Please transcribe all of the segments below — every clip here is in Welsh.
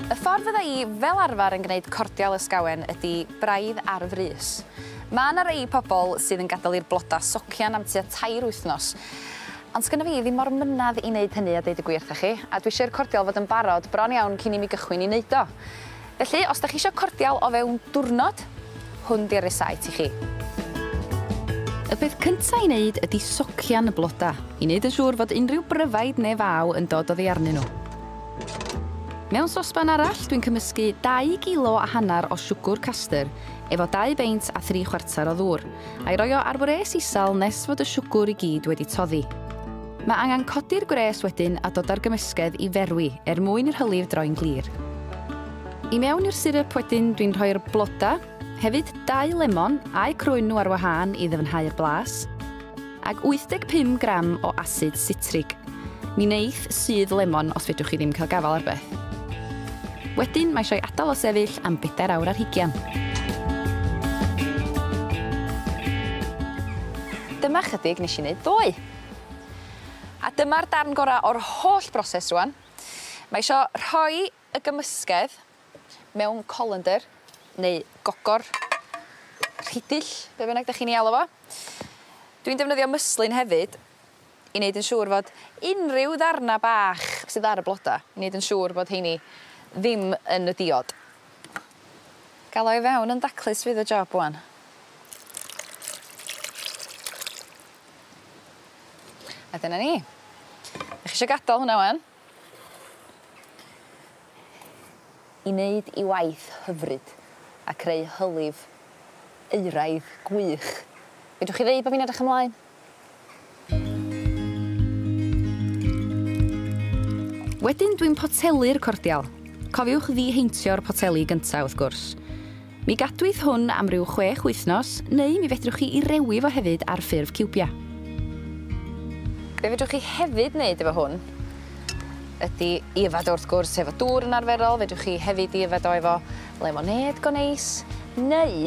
Y ffordd fydda i fel arfer yn gwneud cordial ysgawen ydi braidd ar y frys. Mae yna rei pobl sydd yn gadael i'r blodau socian am tua tair wythnos, ond sgynna fi ddim mor mynedd i wneud hynny a deud y gwir 'tha chi, a dwi isio i'r cordial fod yn barod bron iawn cyn i mi gychwyn i neud o. Felly, os 'da chi isio cordial o fewn diwrnod, hwn 'di'r resáit i chi. Y peth cynta' i wneud ydi socian y bloda', i wneud yn siŵr fod unrhyw bryfaid ne' faw yn dod oddi arnyn nhw. Mewn sosban arall, dwi'n cymysgu dau gilo a hanner o siwgwr castyr efo dau beint a thri chwarter o ddŵr, a'i roi o ar wres isel nes fod y siwgwr i gyd wedi toddi. Mae angen codi'r gwres wedyn a dod â'r gymysgedd i ferwi er mwyn i'r hylif droi'n glir. I mewn i'r siryp wedyn dwi'n rhoi'r blodau, hefyd dau lemon a'u crwyn nhw ar wahân i ddyfnhau'r blas, ag 85 gram o asid sitrig, mi wneith sudd lemon os fedrwch chi ddim cael gafael ar beth. Wedyn mae eisiau adael o sefyll am bedair awr ar hugian. Dyma chydig nes i wneud ddoe. A dyma'r darn gora' o'r holl broses rŵan. Mae isio rhoi y gymysgedd mewn colander neu gogor, rhidill, be' bynnag 'dach chi'n 'i alw fo. Dwi'n defnyddio mwslyn hefyd i neud yn siŵr fod unryw ddarna bach sydd ar y bloda i neud yn siŵr fod 'heini ddim yn y diod. Ga'l o i fewn yn daclus fydd y job ŵan. A dyna ni. 'Dach chi isio gadal hwnna 'wan? I neud 'i waith hyfryd a creu hylif euraidd gwych. Fedrwch chi ddeud bo' fi'n edrych ymlaen? Wedyn dwi'n potelu'r cordial. Cofiwch ddi-heintio'r poteli gynta wrth gwrs. Mi gadwyd hwn am ryw chwech wythnos, neu mi fedrwch chi 'i rewi fo hefyd ar ffurf ciwbiau. Be fedrwch chi hefyd wneud efo hwn ydi 'i yfed o wrth gwrs efo dŵr yn arferol, fedrwch chi hefyd 'i yfed o efo lemonêd go neis, neu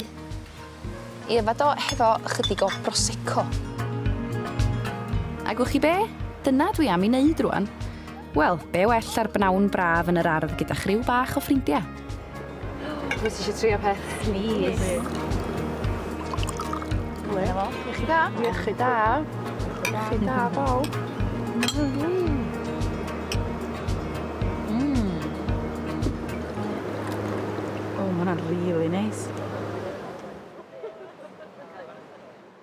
'i yfed o hefo ychydig o Prosecco. A gwch chi be? Dyna dwi am 'i wneud rŵan. Wel, be well ar bnawn braf yn yr ardd gyda chriw bach o ffrindiau. Wyt ti eisiau trio peth? Please. Hwyl. Iechyd da. Iechyd da. Iechyd da, bawb. O, mae hwnna'n really nice.